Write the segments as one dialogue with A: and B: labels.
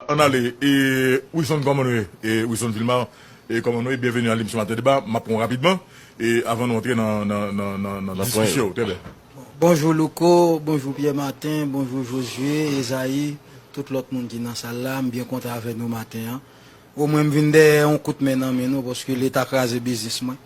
A: Ann ale e Wilson kòman nou ye e Wilson Vilmar e kòman nou ye byenveni a lemisyon maten deba map pranw rapidman e avan nou antre nan nan nan nan nan diskisyon yo trèbyen. Bonjou Louko,
B: bonjou Pierre Martin, bonjou Josué, Esaïe, tout lòt moun ki nan sal la, m byen kontan avè nou maten an. O mwen m vin dèyè yon kout men nan men nou paske leta kraze biznis mwen.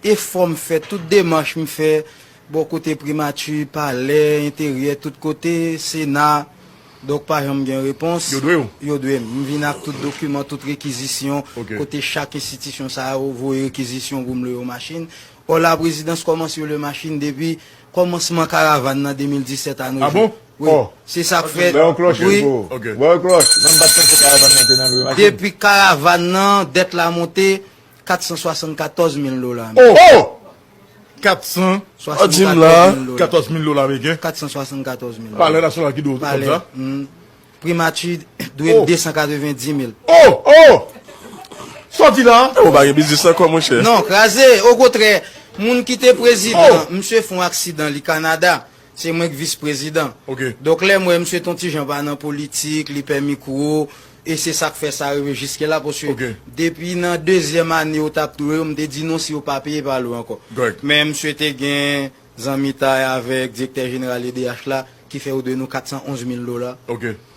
B: Efò m fè, tout demach m fè bò kote Primati, Palè, Enteryè, tout kote, Sena, donk pa janm gen repons. Yo dwe w? Yo dwe m. M vin ak tout dokiman, tout rekizisyon, kote chak
A: enstitisyon
B: sa yo voye rekizisyon pou m lwe yon machin. Ò Laprezidans kòmanse lwe machin depi kòmansman karavan nan 2017 a nou jwenn. Wi.
A: Se sa k
B: fè.
C: Ba yo
B: klòch yo pou ou.
C: Ba yo klòch.
A: Mwen m pa t panse karavan nan te nan lwe
B: machin. Depi karavan nan, dèt la monte, 474 mil dola
C: ameriken.
A: Oh! Oh! 474 mil dola ameriken. 474 mil dola.
B: Palè nasyonal ki dwe ou
A: sòm sa? Palè. Primati
B: dwe m 290 mil. Oh! Oh!
A: Sa w di la? E ou pa gen biznis ankò
C: monchè? Non, kraze! Okotrè,
B: moun ki te prezidan, misye fon aksidan li Kanada. Se mwen k vis prezidan. Donk lè m
A: wè misye ton
B: ti jan pa nan politik, li pè mikwo, e se sa k fè sa rive jiske la paske depi nan dezyèm ane yo t ap touye yo m te di non si yo pa peye pa lwen ankò. Men misye te gen zanmitay avèk direktè jeneral edh la ki fè yo dwe nou 411 mil dola.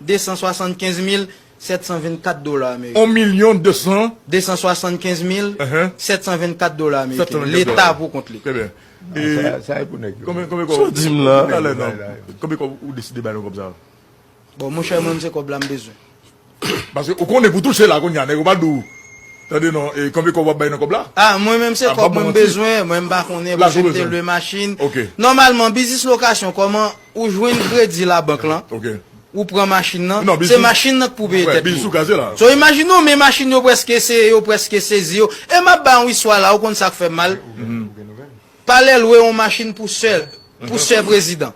B: 275 mil 724 dola ameriken. On milyon de san. 275 mil 724 dola ameriken. Leta pou kont li. Trè byen. E.
A: Sa e
C: pou nèg yo. Konbyen konbyen kòb. Sa w di m la.
A: Talè nan. Konbyen kòb ou deside bay nan kòb sa a. Bon mon chè
B: mwen m se kòb la m bezwen. Paske
A: ou konnen pou touche la kounye a nèg yo pa di w tande non e konbyen kòb w ap bay nan kòb la. A mwen menm se kòb
B: mwen m bezwen mwen m pa konnen pou se m te lwe machin. Ok. Nòmalman biznis lokasyon kòman. Ou jwenn kredi labank lan, ou pran machin lan, se machin lan k pou peye tèt yo. So imajine ou men machin yo prèske eseye, yo prèske sezi yo. E m ap bay yon istwa la ou konn sa k fè m mal? Palè lwe yon machin pou sè, pou sè prezidan.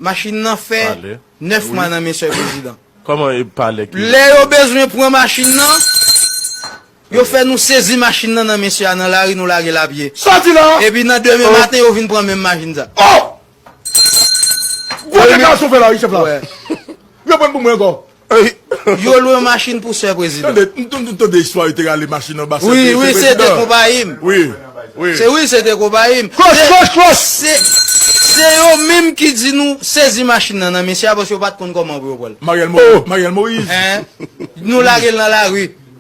B: Machin lan fè 9 mwa nan men sè prezidan.
C: Lè yo bezwen
B: pran machin lan. Yo fè nou sezi machin nan nan mesye a nan lari nou lagel a pye. Sòti la! Epi nan
A: demen maten
B: yo vin pran menm machin sa. Oh!
A: Gwo dekarasyon fè la wi chèf la. Yo prann pou mwen ankò. Yo lwe
B: yon machin pou sè prezidan. Tande, m tande istwa
A: yo te rale machin anba sè prezidan. Wi, wi, se te
B: konpayi m. Wi, wi.
A: Se wi, se te
B: konpayi m. Klos, klos, klos! Se yo menm ki di nou sezi machin nan nan mesye a paske yo pat konn kòman pou yo pran l. Mariel
A: Moïse. Hein?
B: Nou lagel nan lari.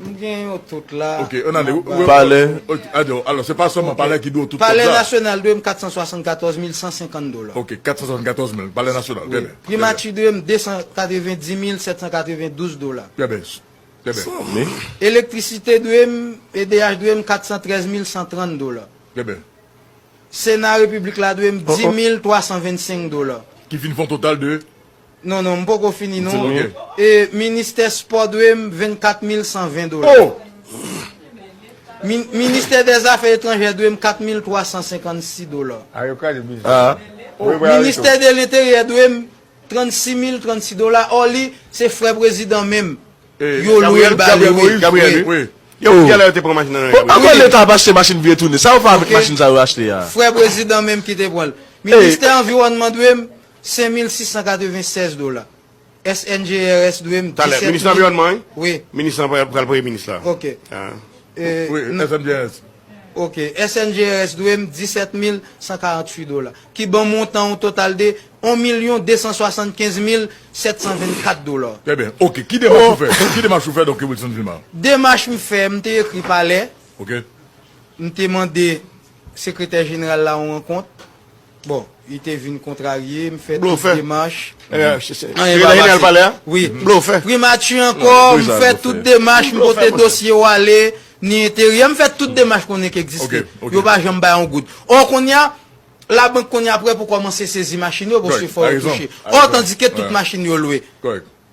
A: M gen yo tout
B: la.
A: Palè.
C: Alò se pa
A: sèlman palè ki dwe w tout kòb sa. Palè nasyonal dwe m 474
B: mil 150 dola. Ok 474
A: mil palè nasyonal. Trè byen. Primati dwe m 290
B: mil 792 dola. Trè byen.
A: Trè byen. San mi. Elektrisite
B: dwe m, edh dwe m 413 mil 130 dola. Trè byen.
A: Sena
B: repiblik la dwe m 10 mil 325 dola. Ki vin fè yon total
A: de. Non non m poko
B: fini non e
A: ministè
B: spò dwe m 24 mil 120 dola
A: min
B: ministè dè zafè etranjè dwe m 4 mil 356 dola
C: o ministè
B: de lenteryè dwe m 36 mil 36 dola ò li se frè prezidan menm yo lwe l ba
C: li wi ankò leta ap achte machin vye toune sa yo fè avèk machin sa yo achte a frè prezidan menm
B: ki te pran l ministè anviwònman dwe m 5696 dola SNGRS dwe m 17 Minis lanviwònman wi Wi
C: Minis lan
B: pral premye
C: minis la Ok
A: Wi SNGRS Ok
B: SNGRS dwe m 17148 dola ki ban montan yon total de 1275724 dola Trè byen Ok ki
A: demach ou fè Ki demach ou fè Doktè Wilson Gilmar Demach m fè
B: m te ekri palè Ok
A: M te
B: mande sekretè jeneral la yon rankont. Bon li te vin kontrarye m fè tout demach anyen pa pase wi primati ankò m fè tout demach m pote dosye w ale ni enteryè m fè tout demach konnen k egziste yo pa janm bay yon goud ò konnya labank konnya prè pou kòmanse sezi machin yo paske fò yo touche ò tandike tout machin yo lwe.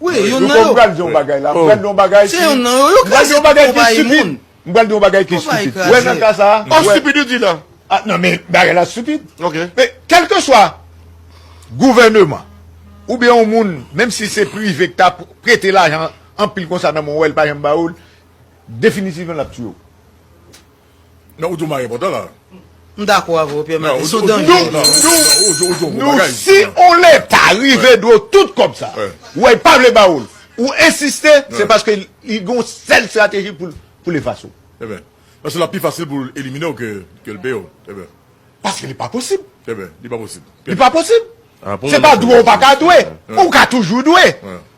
A: Wi, youn nan yo. Louko, m pral di
B: w yon bagay la. M
D: pral di w yon bagay ki.
B: Se youn nan yo. Yo kraze tout konpayi
D: moun. M pral di w yon bagay ki stupid. Konpayi kraze. Wè nan ka sa a. Oh, stupid ou di la.
C: Ah nan men bagay
D: la stupid. Ok. Men,
C: kelkeswa
D: gouveneman oubyen yon moun, menm si se prive ki ta prete lajan anpil konsa nan men w wè l pa janm ba ou l, definitivman l ap tiye w.
A: Nan ou di w marie potan la. M dakò avè
B: w Pierre Martin, son danje
D: li ye. Nou si on leta rive dwe w tout kòb sa a, ou wè l pa vle ba ou l, ou ensiste, se paske li gen yon sèl estrateji pou l efase w. Paske
A: l ap pi fasil pou l elimine w ke l peye w. Paske li pa posib.
D: Eben, li pa posib.
A: Li pa posib.
D: Se pa dwe ou pa ka dwe. Ou ka toujou dwe.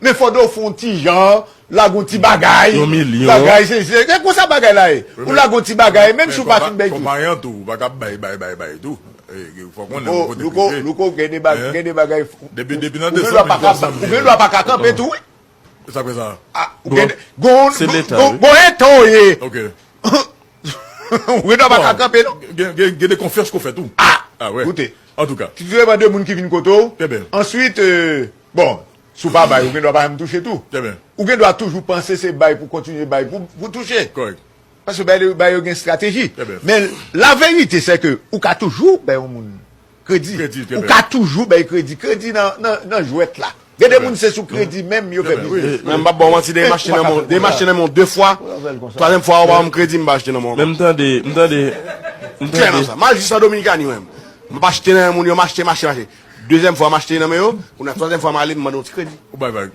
D: Men fò do fon ti jan, lagon ti bagay. Yon milyon. Bagay se se. E konsa bagay la e. Ou lagon ti bagay, menm si ou pa fin bay tout. Men, konpayan tou, ou pa ka bay,
A: bay, bay, bay tou. E, fò konnen ou kote prive. Louko, louko, gen de bagay,
D: gen de bagay. Depi, depi nan 200
A: mil, 300 mil. Ou
D: gen dwa pa ka kanpe tou wi. Sak fè sa?
A: Se
D: leta wi. Gon
C: etan ou ye.
A: Ok.
D: Ou gen dwa pa ka kanpe non. Gen de konfyans
A: ke w fè tou. A! A wè. Koute. An tou ka.
D: Trè byen
A: de moun ki vin
D: kote w. Trè byen. Answit, bon, si w pa bay ou gen dwa pa janm touche tou. Trè byen. Ou gen dwa toujou panse se bay pou kontinye bay pou touche. Kòrèk. Paske
A: bay
D: yo gen estrateji. Trè byen. Men la verite se ke ou ka toujou bay yon moun. Kredi. Ou ka toujou bay kredi. Kredi nan jwèt la. Gen de moun se sou kredi menm yo fè biznis. Menm m pa ba w manti de machte
C: nan men w. Machte nan men w 2 fwa. Twazyèm fwa ou ba banm kredi m pa achte nan men w ankò. Men m tande, m tande.
E: M klè nan sa. Mal jis
C: an Dominikani menm. M ap achte nan men moun yo, m achte, m achte, m achte. Dezyèm fwa m achte nan men yo, kounya twazyèm fwa m ale m mande yon ti kredi. Ou bay vag.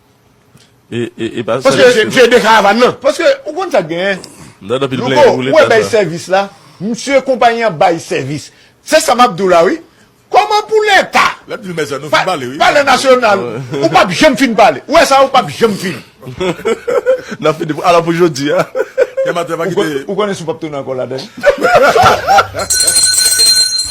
D: Se de karavan nan. Paske ou konn sak gen. Louko ou wè bay sèvis la. Msye konpayi an bay sèvis. Se sa map di w la wi. Koman pou leta. Lap di mèsi a nou fin pale wi. Pale nasyonal. Ou pap janm fin pale. Ou wè sa ou pap janm fin. Nap fini pou ala
E: pou jodi a.
D: Ou konnen si w pap tounen anko ladann.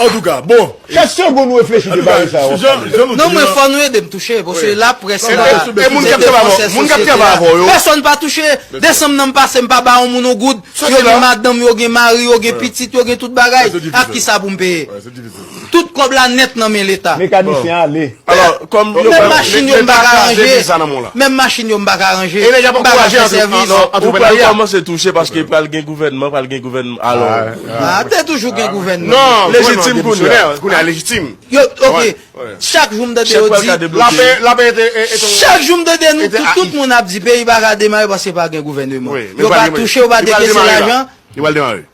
A: Antouka bon. Kèk segonn nou reflechi
D: de bagay sa yo wap pale yo. Non mwen fò
B: nou edem touche paske la près la se defansè sosyete la pèsòn pa touche desanm nan m pase m pa ba yon moun yon goud yo gen madanm yo gen mari yo
A: gen
B: pitit yo gen tout bagay ak kisa poum peye tout kòb la nèt nan men leta mekanisyen ale
D: menm
C: machin yo m pa
B: ka ranje menm machin yo m pa ka ranje m pa ka fè
C: sèvis ou pral
E: kòmanse touche paske pral gen gouvènman pral gen gouvènman alò Ah, te
B: toujou gen ah, gouvènman. Non, légitime
C: kounya. Kounya légitime. Yo, ok.
B: Chak jou m tande yo di. La pe, la pe
C: ete, ete. Chak jou m tande nou,
B: tout, tout moun ap di peyi pa ka demare paske pa gen gouvènman. Yo pa touche, yo pa dekese lajan. Yo pa demare.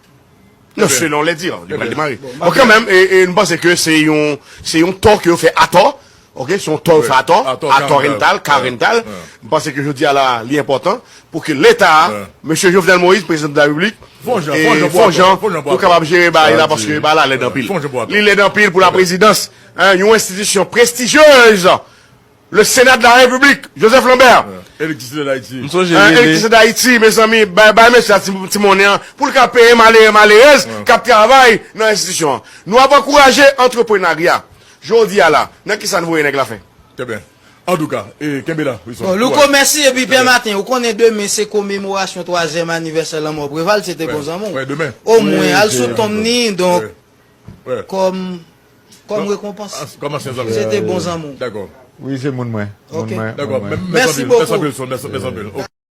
C: Non, selon les dires, yo pa demare. Bon, kanmèm, e, e, m panse ke se yon, se yon tò ke yo fè atò. Ok son tò ou fè atò, atò rental, ka rental, m panse ke jodi a la li enpòtan pou ke leta, mesye Jovenel Moïse prezidan de la repiblik, fon jan, fon jan pou yo kapab jere bagay la paske bagay la lèd anpil, li lèd anpil pou la prezidans, yon enstitisyon prestijyez, le sena de la repiblik, Joseph Lambert, elektrisite
A: dayiti, elektrisite dayiti
C: mezanmi bay mesye a ti monnen an pou l ka peye malere malerèz kap travay nan enstitisyon an, nou ap ankouraje antreprenarya. Jodi a la nan kisa n voye nèg la fè. Trè byen.
A: Antouka, e kenbe la, Wilson. Bon, Louko, mèsi.
B: Epi, Pè Maten, ou konnen demen se komemorasyon twazyèm anivèsè lanmò Preval, se te bon zanmi w. Wè, demen. Omwen,
A: al sou
B: tonm ni, donk, kòm, kòm rekonpans. Kòm ansyen zanmi w. Se te
D: bon zanmi w. Dakò.
B: Wi, se
D: moun mwen.
A: Moun mwen.
B: Dakò.
D: Mèsi
B: bokou. Mèsi anpil, Wilson.
D: Mèsi anpil.